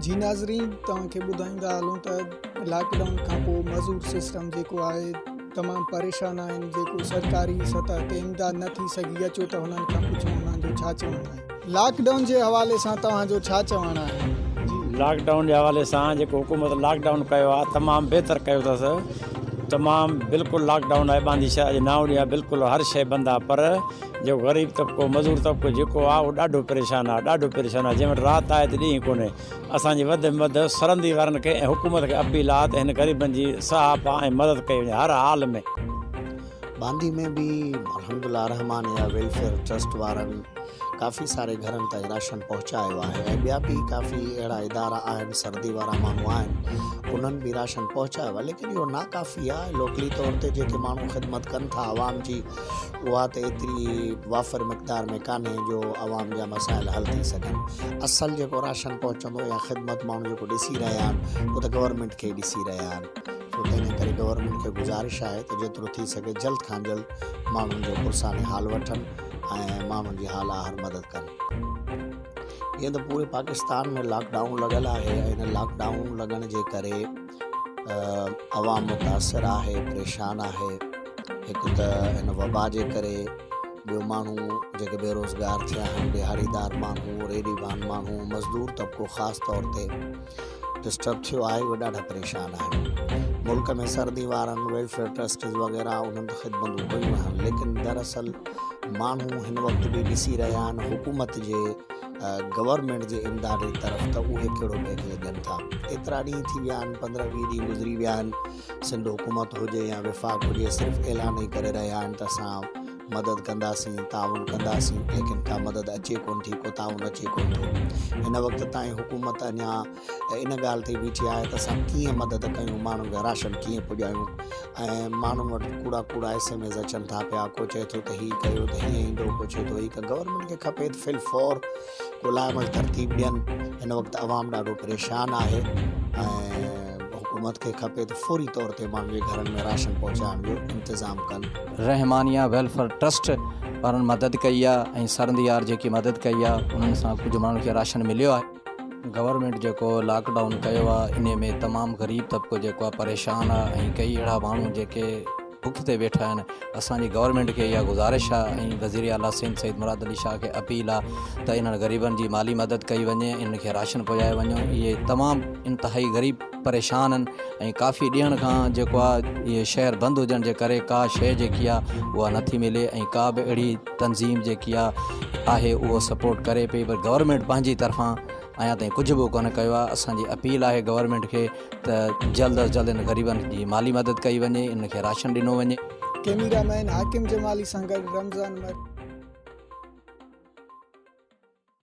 جي ناظرين توهان کي ٻڌائيندا هلون ته لاڪ ڊائون کانپوء معذور سسٽم جيڪو آهي تمام پريشان آهن جيڪو سرڪاري سطح تي امداد نه ٿي سگهي اچو ته هنن کان پڇون انهن جو ڇا چوڻ آهي لاڪ ڊائون جي حوالي سان توهان جو ڇا چوڻ آهي جي لاڪ ڊائون جي حوالي سان جيڪو حڪومت لاڪ ڊائون ڪيو آهي تمام بهتر ڪيو اٿس تمام بلڪل لاڪ ڊائون آهي باندي شهر جي ناوڙي آهي بلڪل هر شي بند آهي پر جيڪو غريب طبقو مزور طبقو جيڪو آ اهو ڏاڍو پريشان آ ڏاڍو پريشان آ جنهن وٽ رات آهي ته ڏينهن ڪونهي اسان جي وڌ ۾ وڌ سرندي وارن کي ۽ حڪومت کي اپيل آ ته هن غريبن جي سهاپا ۽ مدد ڪئي وڃي هر حال ۾ باندي ۾ به الحمدالله الرحمان يا ويلفيئر ٽرسٽ وارن ڪافي ساري گهرن تائين راشن پهچايو آهي ۽ ٻيا به ڪافي اهڙا ادارا آهن سردي وارا ماڻهو آهن انهن به راشن پهچايو آهي ليڪن اهو ناڪافي آ لوڪلي طور تي جيڪي ماڻهو خدمت ڪن ٿا عوام جي اها ته ايتري وافر مقدار ۾ ڪانهي جو عوام جا مسائل حل ٿي سگهن. اصل جيڪو راشن پهچندو يا خدمت ماڻهو جيڪو ڏسي رهيا آهن اهو ته گورنمينٽ کي ئي ڏسي رهيا آهن سو تنهنجي ڪري گورنمينٽ کي گذارش آهي ته جيترو ٿي سگهي جلد کان جلد ماڻهن جو پرساني حال وٺن ۽ ماڻهن جي حال آهر مدد ڪن. جيئن ته پوري پاڪستان ۾ لاڪ ڊائون لڳل آهي ۽ ان لاڪ ڊائون لڳڻ جي ڪري. عوام متاثر آهي پريشان آهي هڪ ته هن وبا جي ڪري ٻيو ماڻهو جيڪي بيروزگار ٿيا آهن ڏهاڙيدار ماڻهو ريڊي وان ماڻهو مزدور طبقو خاص طور تي ڊسٽرب ٿيو آهي اهي ڏاڍا پريشان آهن ملڪ ۾ سردي وارن ويلفيئر ٽرسٽز وغيرا انهن ته خدمتون ڪيون آهن ليڪن دراصل ماڻهو هن وقت به ڏسي رهيا آهن حڪومت جي گورنمينٽ جي امداد جي طرف ته اهي ڪهڙو پيڪيج ڏين ٿا. ايترا ڏينهن ٿي ويا آهن، پندرهن ويهه ڏينهن گذري ويا آهن، سنڌ حڪومت هجي يا وفاق هجي صرف اعلان ئي ڪري رهيا آهن ته اسان مدد ڪنداسين، تعاون ڪنداسين ليڪن ڪا مدد اچي ڪونه ٿي، ڪو تعاون اچي ڪونه ٿو. هن وقت تائين حڪومت اڃا ته ان ڳالهه تي بيٺي آهي ته اسان ڪيئن مدد ڪيون ماڻهن کي راشن ڪيئن پڄايون ۽ ماڻهن وٽ ڪوڙا ڪوڙا ايس ايم ايس اچن ٿا پيا ڪو چئي ٿو ته هي ڪيو ته هيئن ايندو ڪو چئي ٿو هي ڪيو گورنمينٽ کي کپي ته فل فور ڪو لاء عمل ترتيب ڏين هن وقت عوام ڏاڍو پريشان آهي ۽ حڪومت کي کپي ته فوري طور تي ماڻهن جي گهرن ۾ راشن پهچائڻ جو انتظام ڪن رحمانيه ويلفيئر ٽرسٽ وارن مدد ڪئي آهي ۽ سرنديار جيڪي مدد ڪئي آهي انهن سان ڪجهه ماڻهن کي راشن مليو آهي گورنمينٽ جيڪو لاڪ ڊائون ڪيو آ انهي ۾ تمام غريب طبقو جيڪو آ پريشان آ ۽ ڪيئي اهڙا ماڻهو جيڪي بک تي ويٺا آهن اسان جي گورنمينٽ کي اها گذارش آ ۽ وزير اعليٰ سنڌ سيد مراد علي شاهه کي اپيل آ ته انهن غريبن جي مالي مدد ڪئي وڃي انهن کي راشن پڄايو وڃو اهي تمام انتهائي غريب پريشان آھن ۽ ڪافي ڏينھن کان جيڪو آ اھي شھر بند ھجڻ جي ڪري ڪا شيء جيڪي آ اھا نٿي ملي ۽ ڪا به اھڙي تنظيم جيڪي آ آھي اھو سپورٽ ڪري پئي پر گورنمينٽ پنھنجي طرفان اڃا تائين ڪجھ به ڪونه ڪيو آ اسان جي اپيل آھي گورنمينٽ کي ته جلد از جلد ان غريبن جي مالي مدد ڪئي وڃي انھن کي راشن ڏنو وڃي. ڪيميرا مين حاڪم جمالي سان گڏ رمضان مير.